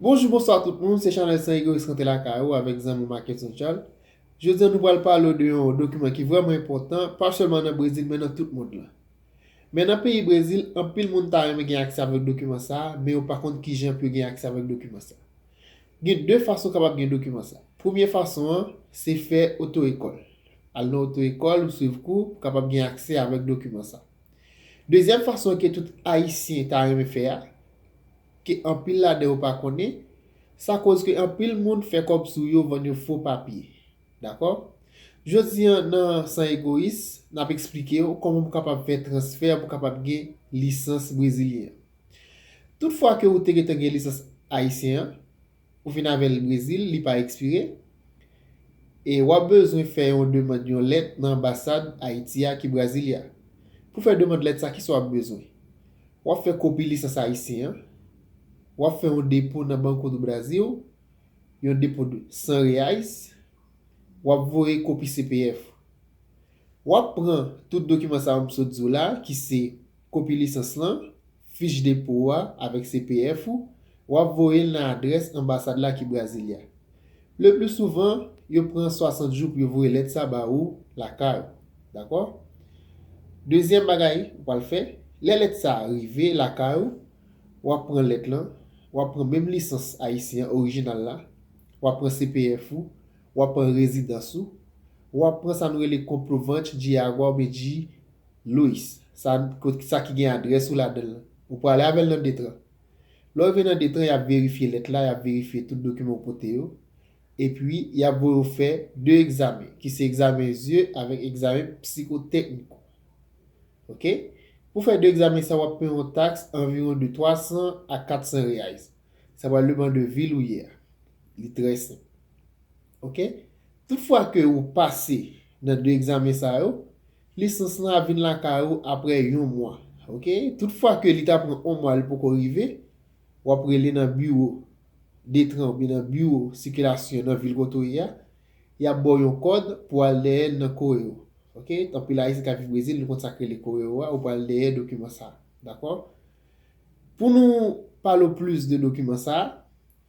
Bonjou bonswa tout moun se chanèl san egoyis rante lakay ou avèk zanmi w Mackenson Charles jodi an nou pral pale w de yon dokiman ki vrèman enpòtan pa sèlman nan Brezil men nan tout mond lan men nan peyi Brezil anpil moun ta renmen gen aksè avèk dokiman sa men yo pa konn kijan pou yo gen aksè avèk dokiman sa gen 2 fason kapab gen dokiman sa premye fason an se fè oto ekòl al nan oto ekòl ou swiv kou pou kapab gen aksè avèk dokiman sa dezyèm fason ke tout ayisyen ta renmen fè a ke anpil ladan yo pa konnen, sa koz ke anpil moun fè kòb sou yo vann yo fo papye. Dakò? Jodi an nan San Egoyis, n ap eksplike w kòman pou kapab fè transfè pou kapab gen lisans brezilyen. Tout fwa ke ou te gentan gen lisans ayisyen an, ou vin avèl Brezil li pa ekspire e wap bezwen fè yon demand yon lèt nan anbasad Ayiti a ki Brasilia. Pou fè demand lèt sa kisa wap bezwen? Wap fè kopi lisans ayisyen an, wap fè yon depo nan Banco do Brasil, yon depo de 100 reais, wap voye kopi CPF ou. Wap pran tout dokiman sa yo m sot di w la ki se kopi lisans lan, fich depo ou a avèk CPF ou, w ap voye l nan adrès anbasad la ki Brasilia. Lepli souvan, yo pran 60 jou pou yo voye lèt sa ba ou lakay ou. Dakò? Dezyèm bagay ou pral fè, lè lèt sa a rive lakay ou, w ap pran lèt lan, w ap pran menm lisans ayisyen an orijinal la, w ap pran CPF ou, w ap pran rezidans ou, w ap pran sa nou rele comprovante de água oubyen de Louis, sa kot sa ki gen adrès ou ladan l lan. Ou prale avè l nan Detran. Lè w rive nan Detran, y ap verifye lèt la, y ap verifye tout dokiman ou pote yo. Epi, y ap voye w fè de egzamen, ki se egzamen zye avèk egzamen psikotèknik ou. Ok. Pou fè de egzamen sa yo, w ap peye yon taks anviwon de 300 a 400 reais. Sa pral depan de vil ou ye a. Li trè senp. Ok. Tout fwa ke ou pase nan 2 egzamen sa yo, lisans lan ap vin lakay ou apre yon mwa. Ok. Tout fwa ke li ta pran 1 mwa li poko rive, w ap rele nan biwo Detran oubyen nan biwo sikilasyon nan vil kote ou ye a, y ap ba w yon kòd pou w al dèyè l nan Correo. Ok. Anpil Ayisyen k ap viv Brezil, nou konn sa k rele Correo a, ou pral dèyè dokiman sa a. Dakò? Pou nou pale w plis de dokiman sa a,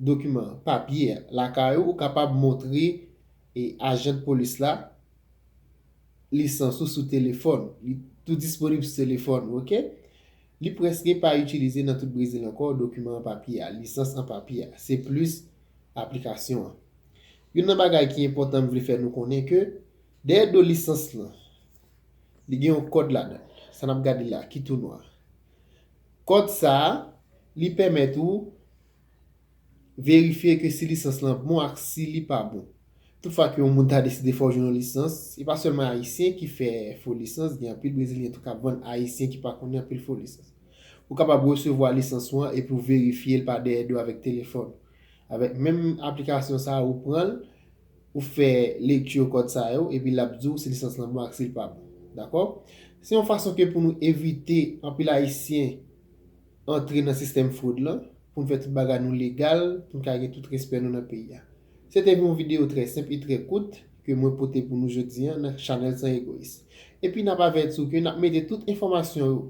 dokiman, papye, a lakay ou, ou kapab montre ajan polis la lisans ou sou telefòn. Li tou disponib sou telefòn ou. Ok? Li prèske pa itilize nan tout Brezil ankò dokiman an papye a, lisans an papye a. Se plis aplikasyon an. Youn nan bagay ki enpòtan m vle fè nou konnen ke dèyè do lisans lan, li gen yon kòd ladan l, sa n ap gade la, ki tou nwa. Kòd sa a, li pèmèt ou verifye ke si lisans lan bon ak si li pa bon. Toutfwa ke yon moun ta deside fè w jwenn yon lisans, se pa sèlman Ayisyen ki fè fo lisans, gen anpil Brezilyen tou k ap vann Ayisyen ki pa konnen anpil fo lisans. Ou kapab resevwa lisans ou an epi w verifye l pa dèyè do avèk telefòn ou. Avèk menm aplikasyon sa a, ou pran l. Ou fè lecture kòd sa yo epi l ap di w si lisans lan bon ak si l pa bon. Dakò? Se yon fason ke pou nou evite anpil Ayisyen antre nan sistèm fwod lan, pou n fè tout bagay nou legal, pou n ka gen tout respè nou nan peyi a. Se te yon videyo trè senp e trè kout ke mwen pote pou nou jodi an nan chanèl San Egoyis. Epi n ap avèti w ke n ap mete tout enfòmasyon yo,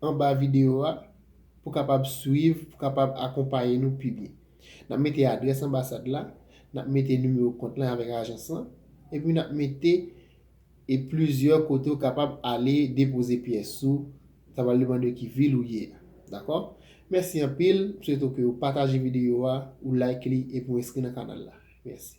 anba videyo a pou kapab swiv, pou kapab akonpaye nou pi byen. N ap mete adrès anbasad la, n ap mete nimewo kont lan avèk ajans lan, epi n ap mete e plizyè kote ou kapab ale depoze pyès ou, sa pral depande ki vil ou ye a. Dakò? Mèsi anpil, m swete w ke ou pataje videyo a, ou like li epi ou enskri nan kanal la. Mèsi.